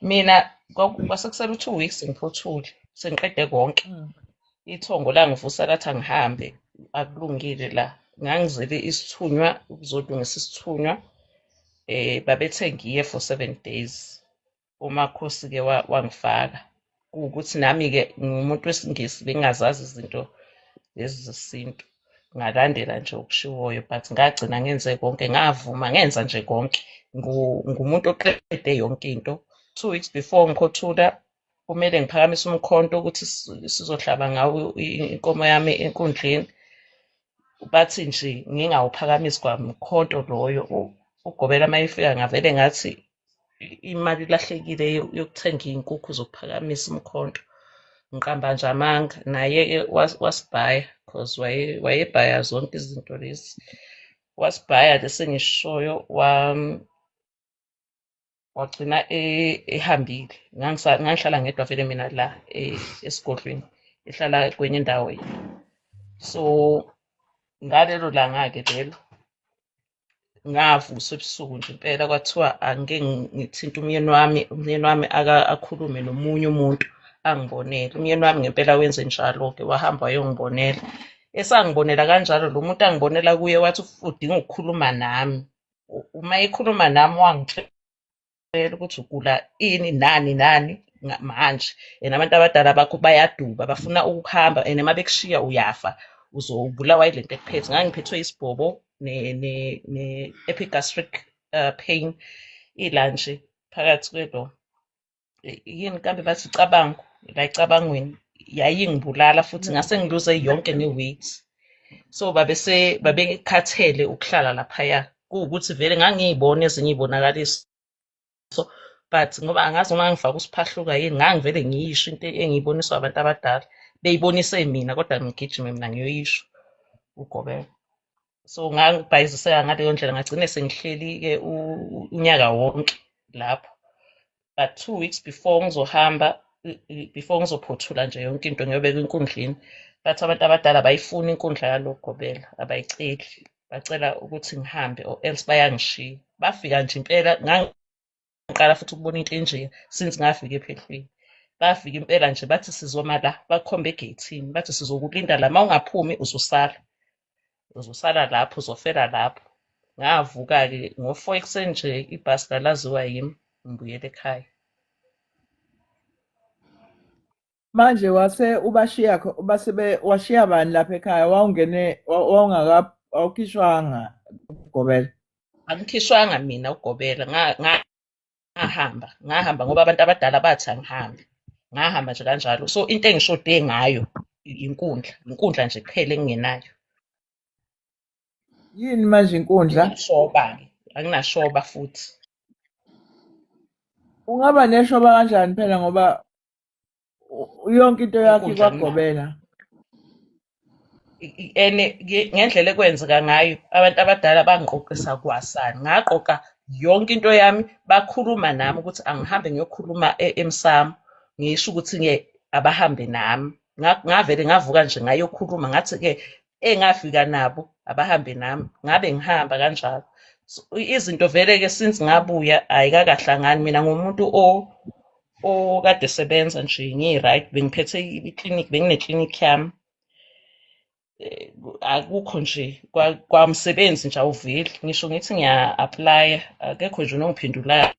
mina kwaku- kwase kusele u-two weeks ngiphothule sengiqede konke Mm. ithongo langivusa lathi angihambe akulungile la ngangizele isithunywa ukuzolungisa isithunywa eh babethe ngiye for seven days umakhosi ke wa- wangifaka kuwukuthi nami ke ngumuntu wesingisi bengazazi izinto lezi zesintu ngalandela nje okushiwoyo but ngagcina ngenze konke ngavuma ngenza nje konke ngumuntu oqede yonke into two weeks before ngikhothula kumele ngiphakamise umkhonto ukuthi sizohlaba ngawo inkomo yami enkundleni bathi nje ngingawuphakamisi kwamkhonto loyo ugobela uma efika ngavele ngathi i- imali ilahlekile yo- yokuthenga iy'nkukhu zokuphakamisa umkhonto ngiqamba nje amanga naye-ke was- wasibhaya cause waye- wayebhaya zonke izinto lezi wasibhaya lesi engishoyo wam- wagcina e- ehambile Ngangisa- ngangihlala ngedwa vele mina la e- esigodlweni ehlala kwenye indawo yena so ngalelo langa-ke lelo ngavuswa ebusuku nje impela kwathiwa angike ngithinte umyeni wami umyeni wami akhulume nomunye umuntu angibonele umyeni wami ngempela wenze njalo-ke wahamba wayongibonela esangibonela kanjalo lo muntu angibonela kuye wathi udinga ukukhuluma nami uma ekhuluma nami wangitshela vele ukuthi ugula ini nani nani nga- manje and abantu abadala bakho bayaduba bafuna ukuhamba and uma bekushiya uyafa uzobulawa yile nto ekuphethe ngangiphethwe isibhobo ne-epigastric uh, pain ilanje phakathi kwelo i- yini kambe bathi icabango la icabangweni yayingibulala futhi ngase ngiluze yonke ne-weight so babese babekhathele ukuhlala laphaya kuwukuthi vele ngangiyibona ezinye iy'bonakaliso so but ngoba angazi noma ngangifaka usiphahluka yini ngangivele ngiyisho into engiyiboniswa abantu abadala beyibonise mina kodwa ngigijime mina ngiyoyisho ugobela so ngangibhayiziseka ngaleyo ndlela ngagcine sengihleli-ke unyaka wonke lapho but two weeks before ngizohamba before ngizophothula nje yonke into ngiyobeka inkundleni but abantu abadala abayifuni inkundla yalogobela abayiceli bacela ukuthi ngihambe or else bayangishiya bafika nje impela ngangiqala futhi ukubona into enjeya since ngafika ephehlweni bafika impela nje bathi sizoma la bakhomba egeyithini bathi sizokulinda la ma ungaphumi uzosala uzosala lapho uzofela lapho ngavuka-ke ngo-four ekuseni nje ibhasi lalaziwa yimi ngibuyela ekhaya manje wase ubashiya base washiya bani lapha ekhaya wawungene wawungaka awukhishwanga ugobela angikhishwanga mina ugobela ngahamba ngahamba ngoba abantu abadala bathi angihambe ngahamba nje kanjalo so into engishode ngayo inkundla inkundla nje kuphela engingenayo yini manje inkundla shoba-ke anginashoba futhi ungaba neshoba kanjani phela ngoba U- yonke into yakhe Inkundla yomngcwabo. ikwagobela I- i- and nge- ngendlela ekwenzeka ngayo abantu abadala bangiqoqisa kwasani ngaqoqa yonke into yami bakhuluma nami ukuthi angihambe ngiyokhuluma e- emsamo ngisho ukuthi-ke abahambe nami Nga- ngavele ngavuka nje ngayokhuluma ngathi-ke engafika nabo abahambe nami ngabe ngihamba kanjalo so, izinto vele ke since ngabuya ayikakahlangani mina ngumuntu o okade sebenza nje ngiyi-right bengiphethe iklinik bengineklinik yami eh, akukho nje kwamsebenzi nje awuveli ngisho ngithi ngiya-aplaya akekho nje nongiphendulayo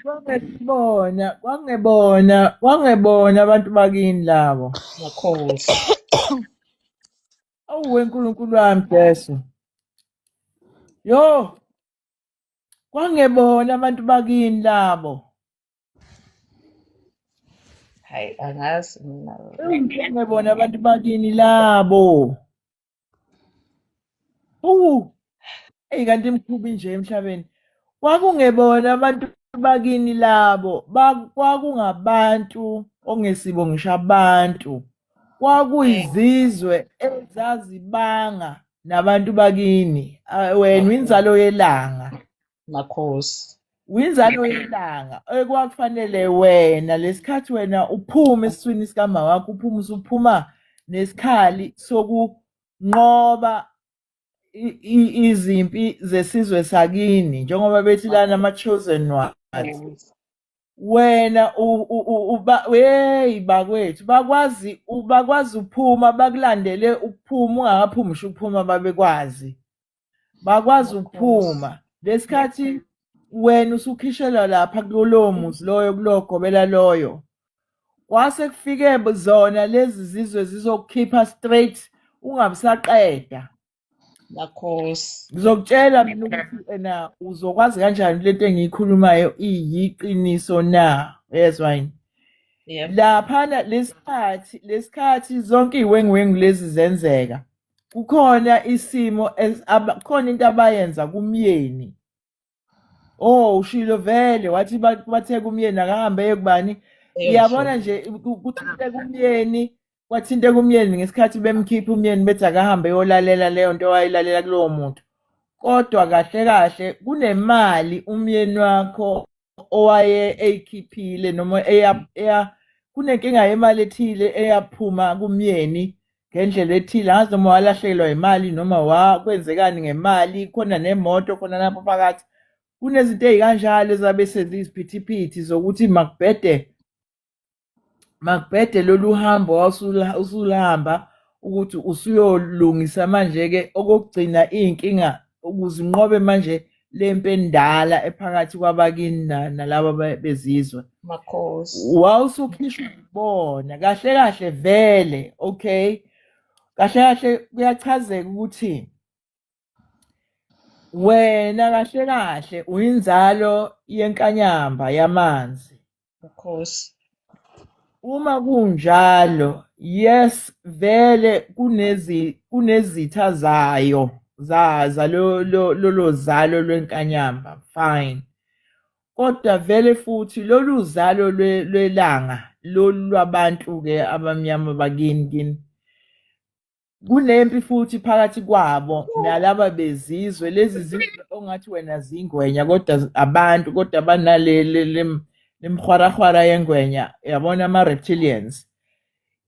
Kwangebona, kwangebona, kwangebona abantu bakini labo. Makhosi. Awu weNkulunkulu wami Jesu. Yo, kwangebona abantu bakini labo. Hayi angazi mina. Ewu, Kwangebona abantu bakini labo. Uwu. Eyi kanti imkhubi nje emhlabeni. Kwakungebona abantu bakini labo, kwakungabantu ongesibo ngisho abantu. Kwakuyizizwe ezazibanga nabantu bakini. Wena inzalo yelanga. makhosi winzalo yelanga ekwakufanele wena lesikhathi wena uphuma esiswini sikamama wakho uphuma usuphuma nesikhali sokunqoba izimpi zesizwe sakini njengoba bethi lana ama-chosen ones wena hey bakwethu bakwazi bakwazi ukuphuma bakulandele ukuphuma ungakaphumi usho ukuphuma babekwazi bakwazi ukuphuma lesikhathi wena usukhishelwa lapha kulowo muzi loyo kulogobela loyo kwase kufike zona lezi zizwe zizokukhipha straight ungabisaqeda lakhosi ngizokutshela mina ukuthi ena uzokwazi kanjani lento engiyikhulumayo iyiqiniso na yezwa yini laphana lesikhathi lesikhathi zonke iwengiwengu lezi zenzeka kukhona isimo khona into abayenza kumyeni oh ushilo vele wathi bathe kumyeni akahambe eye kubani iyabona nje kuthinte kumyeni kwathinte kumyeni ngesikhathi bemkhipha umyeni bethi akahambe yolalela leyo nto wayilalela kulowo muntu kodwa kahle kahle kunemali umyeni wakho owaye eyikhiphile noma eya eya kunenkinga yemali ethile eyaphuma kumyeni ngendlela ethile angazi noma walahlekelwa imali noma wakwenzekani ngemali khona nemoto khona lapho phakathi kunezinto ezikanjalo ezabe senza iziphithiphithi zokuthi makubhede makubhede lolu hambo usulihamba ukuthi usuyolungisa manje-ke okokugcina iy'nkinga ukuze inqobe manje le mpi endala ephakathi kwabakini nalaba bezizwe makhosi wawusukhishwa ibona kahle kahle vele okay kahle kahle kuyachazeka ukuthi Wena kahle kahle uyinzalo yenkanyamba yamanzi. Of course. Uma kunjalo, yes vele kunezi kunezitha zayo zaza lo lo- lolo zalo lwenkanyamba fine. Kodwa vele futhi lolu zalo lwe- lwelanga lolu lwabantu ke abamnyama bakini kini kunempi futhi phakathi kwabo nalaba bezizwe lezi zizwe ongathi wena zingwenya kodwa abantu kodwa banalelemhwarahwara yengwenya yabona ama-reptilians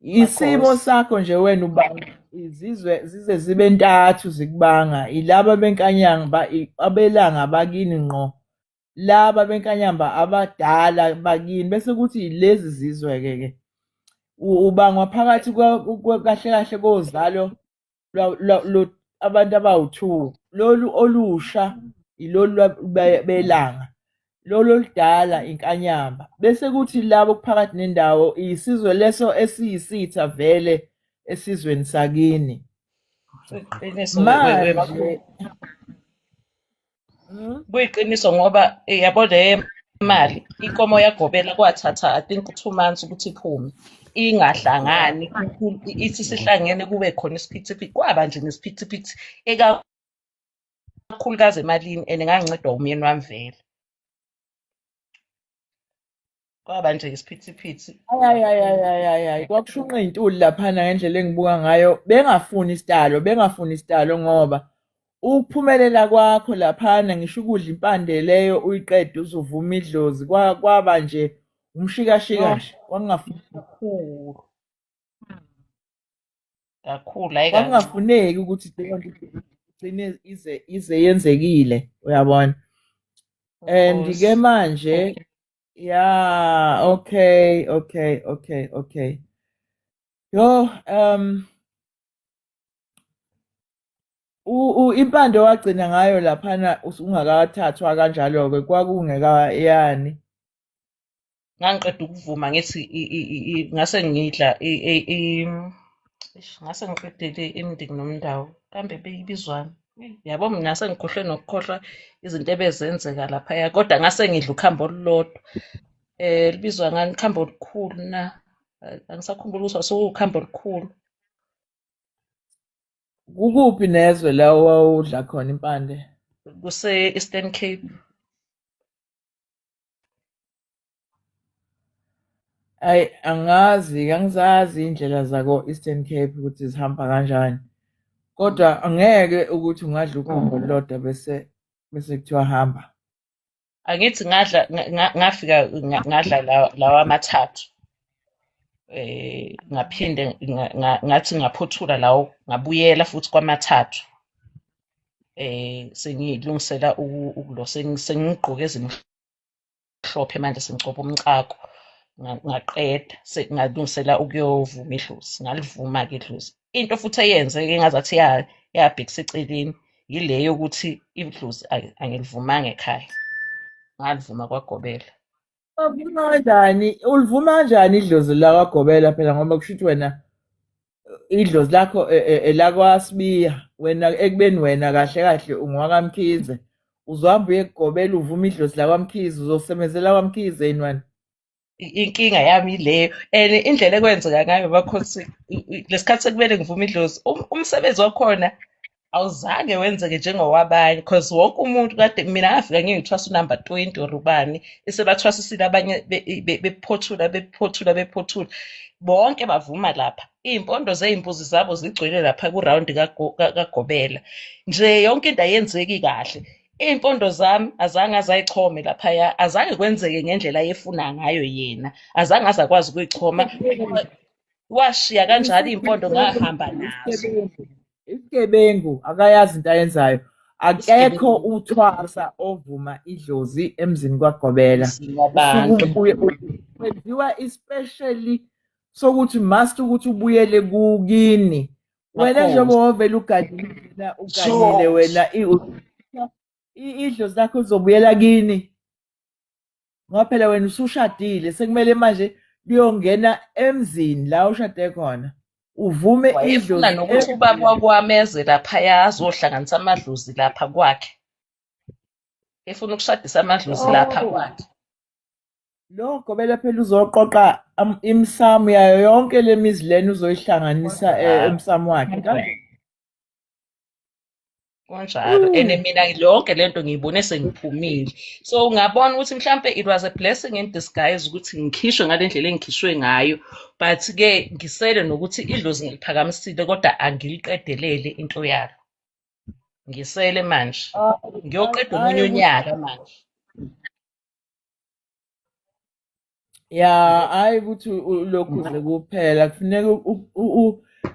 isimo sakho nje wena ubanga izizwe zize zibe ntathu zikubanga ilaba benkanyanga abelanga bakini ngqo laba benkanyamba abadala bakini bese kuthi lezi zizwe-ke ke ubangwa phakathi kahle kahle kozalo abantu abawu-two lolu olusha ilolu belanga lolu oludala inkanyamba bese kuthi labo kuphakathi nendawo isizwe leso esiyisitha vele esizweni sakini manje Mhm. kuyiqiniso ngoba eh, yabo le mali inkomo yagobela kwathatha i think two months ukuthi iphume ingahlangani ku- ithi sihlangene kube khona isiphithiphithi kwaba nje nesiphithiphithi ekakhulukazi emalini and ngangincedwa umyeni wami vele kwaba nje isiphithiphithi ayayayayayayi kwakushunqa iy'ntuli laphana ngendlela engibuka ngayo bengafuni isitalo bengafuni isitalo ngoba ukuphumelela kwakho laphana ngisho ukudla impande leyo uyiqede uzovuma idlozi kwaba nje umshikashika nje kwakungafuni kakhulu kakhulu hayi kwakungafuneki ukuthi leyo nto igcine ize ize yenzekile uyabona and ke manje Yeah, okay, okay, okay, okay. Yo, um u, u impande wagcina ngayo laphana ungakathathwa kanjalo ke kwakungeka yani. Ngangiqeda ukuvuma ngithi ngase ngidla ngase ngiqedele imndeni nomndawo kambe beyibizwani. yabo mina sengikhohlwe nokukhohlwa izinto ebezenzeka laphaya kodwa ngase ngidla ukhambo olulodwa eh libizwa ngani ikhambo olukhulu na Eh, angisakhumbuli ukuthi wasuwukhambo olukhulu Kukuphi nezwe la owawudla khona impande? kuse-eastern cape Ayi angazi angizazi iy'ndlela zako-Eastern Cape ukuthi zihamba kanjani. Kodwa angeke ukuthi ungadla ukhombo olulodwa bese bese kuthiwa hamba. Angithi ngadla ngafika ngadla lawa amathathu. Eh ngaphinde ngathi ngaphothula lawo ngabuyela futhi kwamathathu. Eh sengilungisela ukulo sengigqoke ezimhlophe. mhlophe manje sengcoba umcako ngaqeda ngalungisela ukuyovuma idlozi ngalivuma-ke idlozi into futhi eyenze-ke ngazathi yabhekisa eceleni yile yokuthi idlozi angilivumanga ekhaya ngalivuma kwagobela kanjani ulivuma kanjani idlozi lakwagobela phela ngoba kusho ukuthi wena idlozi lakho e, e, elakwasibiya wena ekubeni wena kahle kahle ungwakamkhize uzohamba uye kugobela uvuma idlozi lakwamkhize uzosebenzela kwamkhize yini wena inkinga yami ileyo and indlela ekwenzeka ngayo bakhosi lesikhathi sekumele ngivume idlozi um, umsebenzi wakhona awuzange wenzeke njengowabanye because wonke umuntu kade mina ngafika ngiyithwasa unumber 20 or ubani esebathwasisile abanye bephothula bephothula bephothula bonke bavuma lapha iy'mpondo zey'mbuzi zabo zigcwele lapha kurawundi kagobela nje yonke into ayenzeki kahle iy'mpondo zami azange azayichome laphaya azange kwenzeke ngendlela ayefuna ngayo yena azange azakwazi ukuyichoma washiya kanjalo iy'mpondo ngahamba nazo isigebengu akayazi into ayenzayo akekho uthwasa ovuma idlozi emzini kwagobela kwenziwa especially sokuthi must ukuthi ubuyele kukini wena njengoba wavele ugadile ugadile wena idlozi lakho uzobuyela kini ngoba phela wena usushadile sekumele manje kuyongena emzini la ushade khona uvume idlozi nokuthi ubaba wakwameze laphaya azohlanganisa amadlozi lapha kwakhe efuna ukushadisa amadlozi oh. lapha kwakhe lo gobela phela uzoqoqa imisamu yayo yonke lemizi lena uzoyihlanganisa eh, emsamu wakhe kunjalo and mm. mina yonke lento ngiyibone sengiphumile so ngabona ukuthi mhlampe it was a blessing in disguise ukuthi ngikhishwe ngale ndlela engikhishwe ngayo but ke ngisele nokuthi idlozi ngiliphakamisile kodwa angiliqedelele into yalo ngisele manje ah, ngiyoqeda omunye unyaka manje ya hayi ukuthi lokhu nje kuphela kufuneka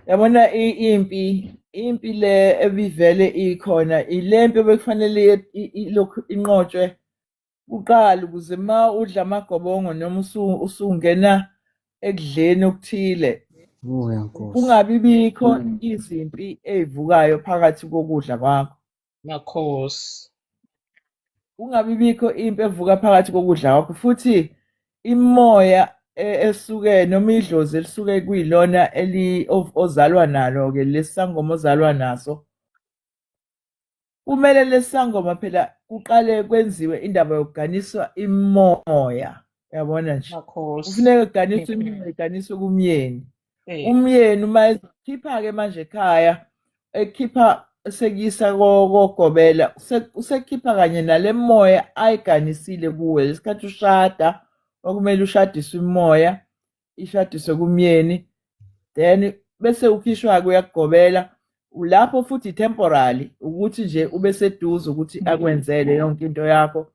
yabona impi impi le ebivele ikhona ile mpi obekufanele ilokhu inqotshwe kuqala ukuze ma udla amagobongo noma usungena ekudleni okuthile kungabi bikho mm. izimpi ezivukayo phakathi kokudla kwakho Makhosi. Ungabi bikho impi evuka phakathi kokudla kwakho futhi imoya e- esuke noma idlozi elisuke kuyilona eli o- ozalwa nalo ke lesangoma ozalwa naso kumele lesangoma phela kuqale kwenziwe indaba yokuganiswa imoya yabona nje Makhosi. kufuneka kuganiswe imimoya iganiswe kumyeni Eh. umyeni uma ezokhipha-ke manje ekhaya ekhipha sekuyisa ko- kogobela use- usekhipha kanye nale moya ayiganisile kuwe lesikhathi ushada okumele ushadiswe imoya ishadiswe kumyeni then bese ukhishwa-ke uyakugobela ulapho futhi temporary ukuthi nje ube seduze ukuthi akwenzele yonke into yakho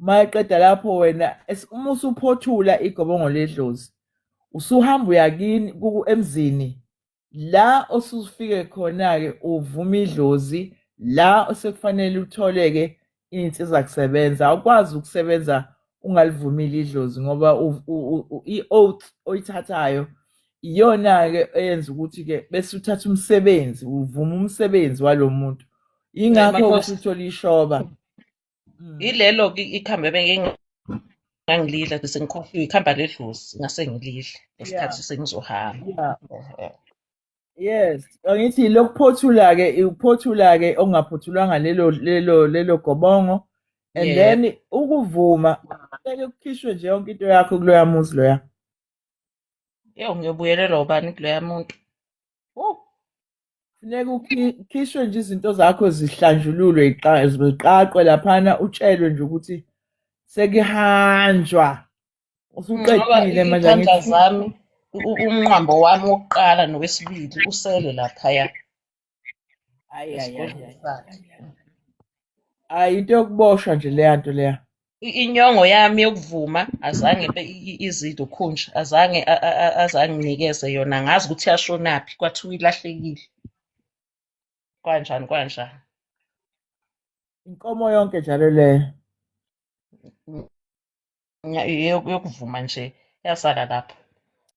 uma eqeda lapho wena es- uma usuphothula igobongo ledlozi usuhamba uyakini emzini la osufike khona-ke uvuma idlozi la osekufanele utholeke iy'nsiza kusebenza awukwazi ukusebenza ungalivumile idlozi ngoba i-oath oyithathayo iyona-ke eyenza ukuthi-ke bese uthatha umsebenzi uvuma umsebenzi walo muntu yingakho ukuthi uthole ishoba Mm. Ilelo ke ikhambi ebengingangilidla bese ngikhohliwe ikhamba ledlozi ngase ngilidle Yeah. ngesikhathi sengizohamba. Yeah. Ehhe. Yes, angithi lokuphothula ke ukuphothula ke okungaphothulwanga lelo lelo lelo gobongo and Yeah. then ukuvuma kumele kukhishwe nje yonke into yakho kuloya muzi loya. Yo ngiyobuyelelwa ubani kuloya muntu. Wo. funeka ukhishwe nje izinto zakho zihlanjululwe ziqaqwe laphana utshelwe nje ukuthi sekuhanjwa usuqedile manje izandla zami u- umnqambo wami wokuqala nowesibili usele laphaya Ayi, ayi, ayi, esigodlweni ayi. sakhe Ayi, into yokuboshwa nje leya nto leya inyongo yami yokuvuma azange izidwe ukhunja azange azange nginikeze yona ngazi ukuthi yashonaphi kwathiwa ilahlekile kwanjani kwanjani inkomo yonke njalo leyo yokuvuma nje yasala lapho